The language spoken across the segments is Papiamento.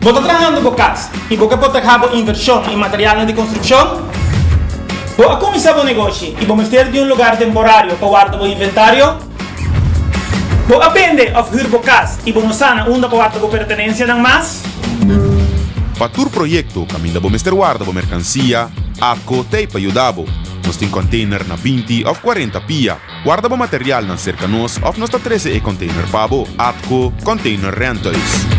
Bo ta trahando bo cas y bo ke por traha bo inversion y materialnan di construccion? Bo a cuminsa bo negoshi y bo mester di un lugar temporario pa warda bo inventario? Bo a bende òf hür bo kas i bo no sa na unda bo wak bo pertenensianan mas? Pa tur proyekto kaminda bo mester warda bo merkansia, AKKO ta ei pa yuda bo. Nos tin kònteiner na binti òf kuarenta pia. Warda bo materialnan serka nos òf nos ta trese e kònteiner pa bo. AKKO Container Rentals.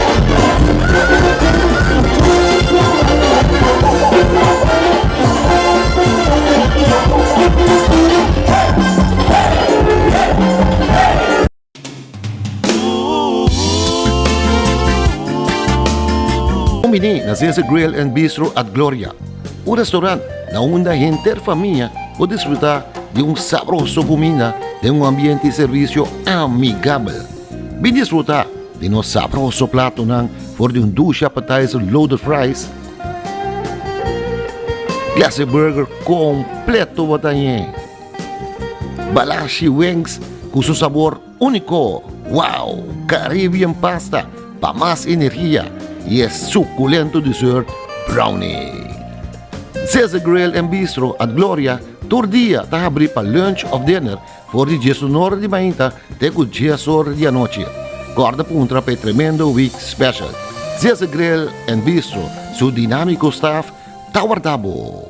Bini na Zeze Grill and Bistro at Gloria, un restaurant na unda henter famia por disfruta di un sabroso cuminda den un ambiente y servicio amigabel. Bin disfruta di nos sabroso platonan for di un douche appetizer loaded fries. Clase burger completo bo ta ñe. Balashi wings cu su sabor unico. Wow! Caribbean pasta pa mas energia y e suculento dessert brownie. Zeze Grill and Bistro at Gloria tur dia ta habri pa lunch of dinner For di diesunora di mainta te ku diesora di anochi, kòrda puntra pa e tremendo Week Special. Zeza Grill and Bistro su dinamiko staf ta warda bo.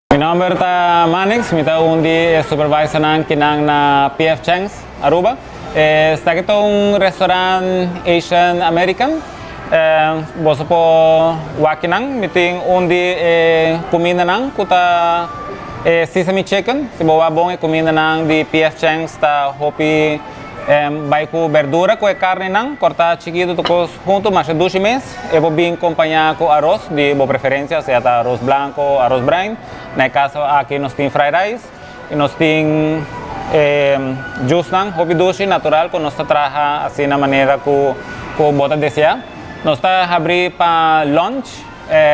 Mi nomber ta Mannix, mi ta un di e supervisornan kinan na PF Chang's Aruba. Esaki ta un restaurant Asian American. Boso por wak kinan. Mi tin un di e kumindanan ku ta e sesame chicken. Si bo wak bon e kumindanan di PF Chang's ta hopi. Bai ku berdura ku e karninan kortá chikitu tokos huntu masha dushi mes. E por bin kompañá ku aros di bo preferensia, sea ta aros blanko o aros brain. Na e kaso aki nos tin fry rice i nos tin e jusnan hopi dushi, natural ku nos ta traha asina manera ku bo ta deseá. Nos ta habrí pa lunch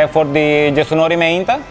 for di diesunori meinta.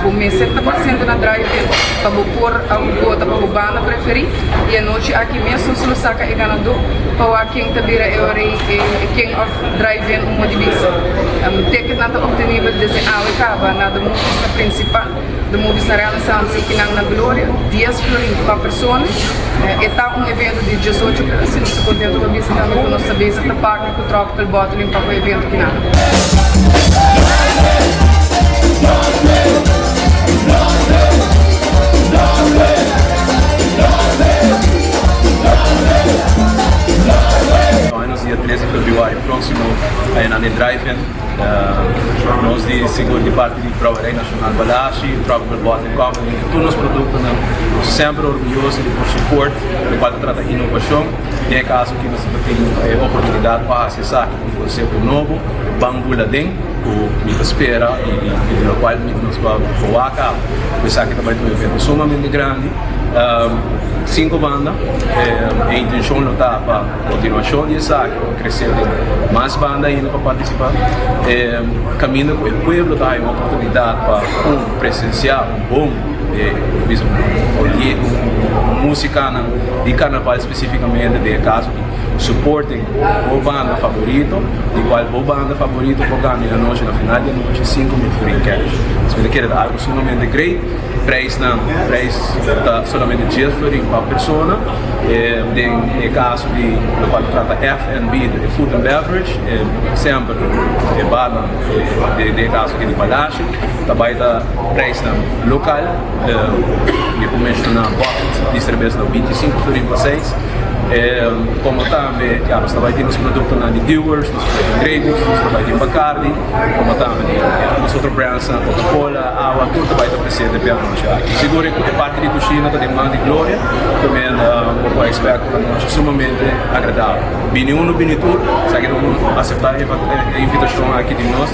Bo mester ta paciente na drive-in pa bo por a un cuota pa bo banda preferi y anochi aki mes nos lo saca e ganador pa wak ken ta bira e orei e king of drive-in un modi bisa. Ticketnan ta obtenibel desde awe caba na The Movies na Principal, The Movies na Renaissance y kinan na Gloria, dies florin pa persona. E ta un evento di diesocho ora si nos ta contento pa bisa tambe cu nos ta bezig ta paca. Ku tròk pel bòtel in pako e bientu ki na. Hoy nos dia tres di februario próximo ta e nan e drive-in. Nos di Sigur di parti di Brouwerij Nacional Balashi, Tròk pel Bòtel Company, tur nos produktonan semper orguyoso di por support lokual ta trata innovashon. Na e kaso aki nos a por tin e oportunidat pa hasi esaki ku un konseho nobo, ban bula den ku mi ta spera i di lokual mi nos por boa a kaba. Ku esaki ta bai ta un evento sumamente grandi. Sin kobanda, e intenshon lo ta pa kontinuashon di esaki lo kresé den mas banda ainda pa partisipá, kaminda ku e pueblo ta haña un oportunidat pa un presensiá un bon. E bisa un olhé ku un músikanan di karnaval spesifikamente den e kaso di suporte bo banda favorito, di kual bo banda favorito por gana e anochi na final di anochi sinku mil forin kèsh. Esei ta kere ta algu sumamente greit. Preisnan, preis ta solamente dies florin pa persona. Den e kaso di lo kual ta trata FNB, e Food and Beverage, semper e barnan den e kaso aki di Palacio. ta bai ta prijsnan local di ku menshona bottles di serbes na binti sinku florin pa seis komo tambe ya nos ta bai tin nos produktonan di dewar's nos ta bai tin grey goose nos ta bai tin bacardi komo tambe tin nos otro brandsnan coca cola awa tur ta bai ta presente pia anochi aki sigur e parti di kushina ta den man di gloria kome bo por expect un anochi sumamente agradabel bini unu bini tur esaki ta por asepta e invitashon aki di nos.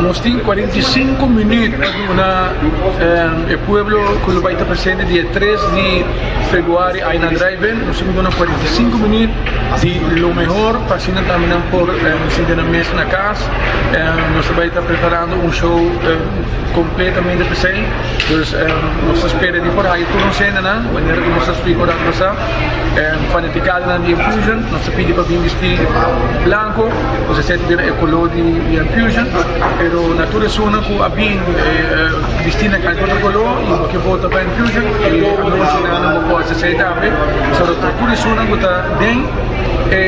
Nos tin cuarenta y cinco minuut pa duna e pueblo cu lo bay ta presente dia tres di februari ay na drivein nos tin cu duna cuarenta y cinco minuut di lo mehor pa asina tambe nan por sinti nan mes na cas nos ta bay ta preparando un show completamente pa esey. Pues nos ta spera di por haña tur nos hendenan manera ku nos ta splika oranta pasá. Fanatikadonan di Enfusion nos ta pidi pa bin bisti blanku ose esei ta bira e koló di Enfusion pero na tur esunnan ku a bin bisti na kanta otro koló i bo ke bota pa Enfusion e anunsionan nan bo por hasi esei ta hape pasobra ta tur esunnan ku ta den e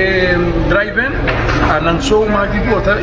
drive a nan so mas di bota.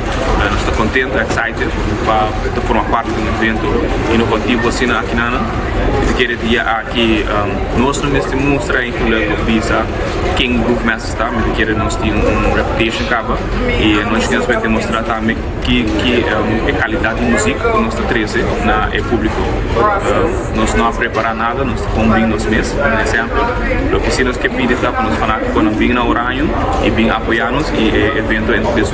Nos ta kontent, excited, pa ta forma parti di un evento inovativo asina aki nan. I ta kere dia aki nos no mester mustra i kula ku bisa ken Groove Masters ta. Mi ta kere nos tin un reputation kaba i nos mester por demostrá tambe ki e kalidat di musik ku nos ta trese na e públiko. Nos no a prepará nada, nos ta kon bin nos mes. Un ehempel, loke sí nos ke pidi ta ku nos fanáticonan bin na Oranjo i bin apoyá nos i e evento entr des.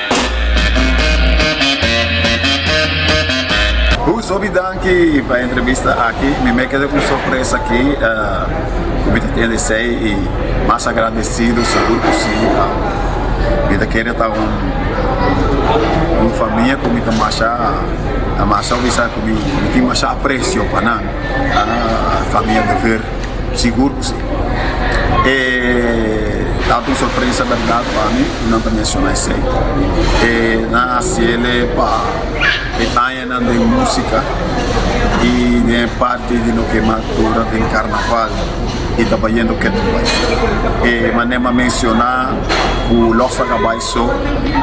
Hu sobi danki pa entrevista aki mi me keda ku sorpresa aki ku mi ta tende esei i mas agrandesido segur ku si mi ta kere ta un famia ku mi ta masha ta masha wisa ku mi tin masha aprecio pa nan famia dever sigur ku si. e tantu un sorpresa berdad pa mi cu nan ta menciona esey e nan a haciele pa e aña nan den musica y den e parti di loke mas dura den carnaval y ta bayendo kende bay e mane m'a menciona cu los a cabai so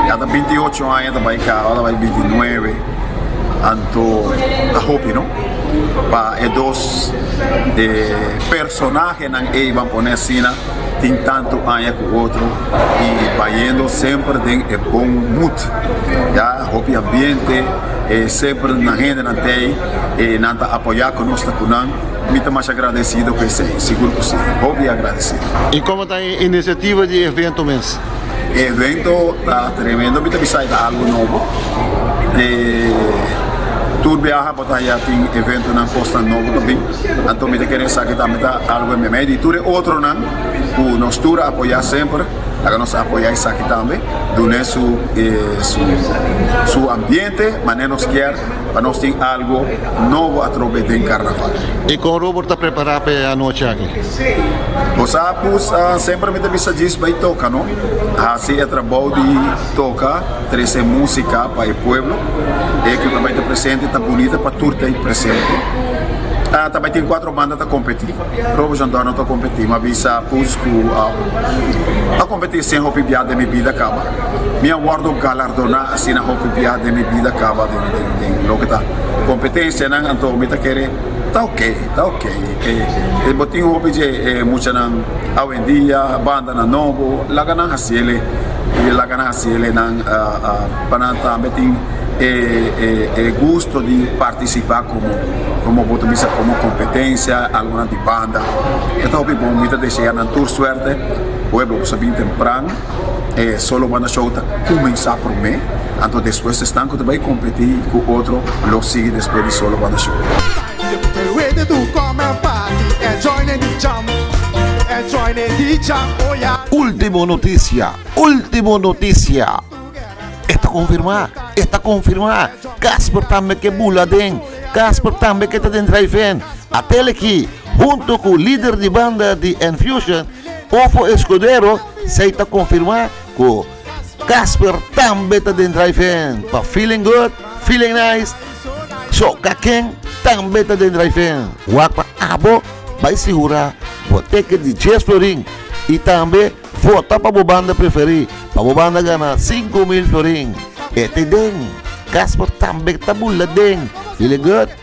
ya ta binti ocho aña ta bay caba ta bay binti nuebe anto a hopi no. pa e dos e personahenan ei ban pone asina tin tantu aña ku otro i bayendo semper den e bon moed ya hopi ambiente e semper nan hendenan ta ei e nan ta apoyá ku nos ta ku nan mi ta masha agradesido ku esei sigur ku si hopi agradesido. I komo ta e inisiativa di e evento mes? E evento ta tremendo mi ta bisa e ta algo nobo e tur biaha bo ta haya tin eventonan cosnan nobo ta bin anto mi ta kere esaki tambe ta algo en bemedio y tur e otronan cu nos tur a apoya semper laga nos apoya esaki tambe dun'e su su ambiente manera nos kier pa nos tin algo nobo atrobe den carnaval. Y con Robert ta prepara pa e anochi aki? Bo sa pus a semper mi ta bisa djis bai toka no, hasi e trabou di toka, trese musika pa e pueblo, e ke ta bai ta presente ta bunita pa tur ta presente, a ta bai tin cuatro banda ta competi, Roberson Dorno ta competi, mi a bisa pus cu a competi sin hopi bia den mi bida caba, mi a wordo galardona asina hopi bia den mi bida caba den loke ta competencianan, anto mi ta kere. Ta ok, ta ok, e bo tin hopi dje e muchanan awendia, bandanan nobo, laga nan hasiele, laga nan hasiele nan pa nan tambe tin e gusto di partisipa komo komo bo ta bisa komo kompetensia algunan di banda, e ta hopi bon, mi ta desea nan tur suerte, oe bo ku sa bin tempran. e solo banda show ta kuminsá promé anto despues esnan ku ta bai kompetí ku otro lo sigui despues di solo banda show. Ultimo noticia ultimo noticia e ta konfirmá e ta konfirmá Casper tambe ke bula aden Casper tambe ke ta den Drive-In Atele ki hunto ku lider di banda di Enfusion Ofo Escudero Esei ta konfirmá ku Casper tambe ta den Drive-In pa Feeling Good, Feeling Nice. So ka ken tambe ta den Drive-In? Wak pa abo bai sigurá bo teken di Djes florin i tambe vota pa bo banda preferí pa bo banda gana sinku mil florin. E ta den Casper tambe ta bula den Feeling Good.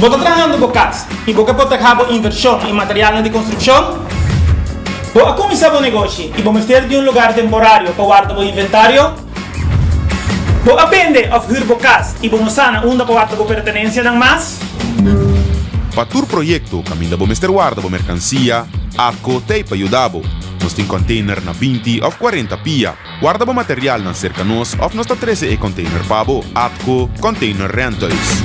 Bo ta trahando bo cas y bo ke por ta ca bo inversion y materialnan di construccion? Bo a cuminsa bo negoshi y bo mester di un lugar temporario pa warda bo inventario? Bo a bende of hür bo cas y bo no sana unda bo wak bo pertenencianan mas? Pa tur proyecto caminda bo mester warda bo mercancia, atco ta ey pa yuda bo. Nos tin container na binti of cuarenta pia. Warda bo materialnan cerca nos of nos ta trece e container pa bo, atco Container Rentals.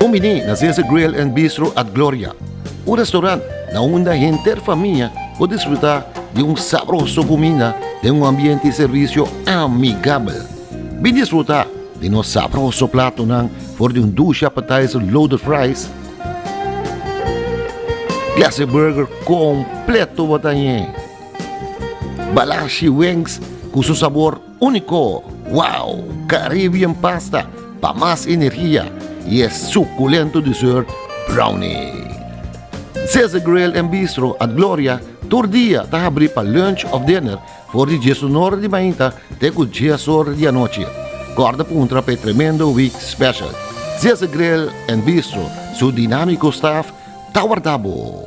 Un biní na Zeze Grill and Bistro at Gloria, un restorant na unda henter famia por disfrutá di un sabroso kuminda den un ambiente i servisio amigabel. Bin disfrutá di nos sabroso platonan for di un dushi appetizer loaded fries, classic burger kompleto watañe, balashi wings ku su sabor. Unico wow Caribbean pasta pa mas energia y e suculento dessert brownie. Zeze Grill and Bistro at Gloria tur dia ta habri pa lunch of dinner for di diesunora di mainta te cu diesora di anochi. Corda puntra pa e tremendo week special. Zeze Grill and Bistro su dinamico staff ta warda bo.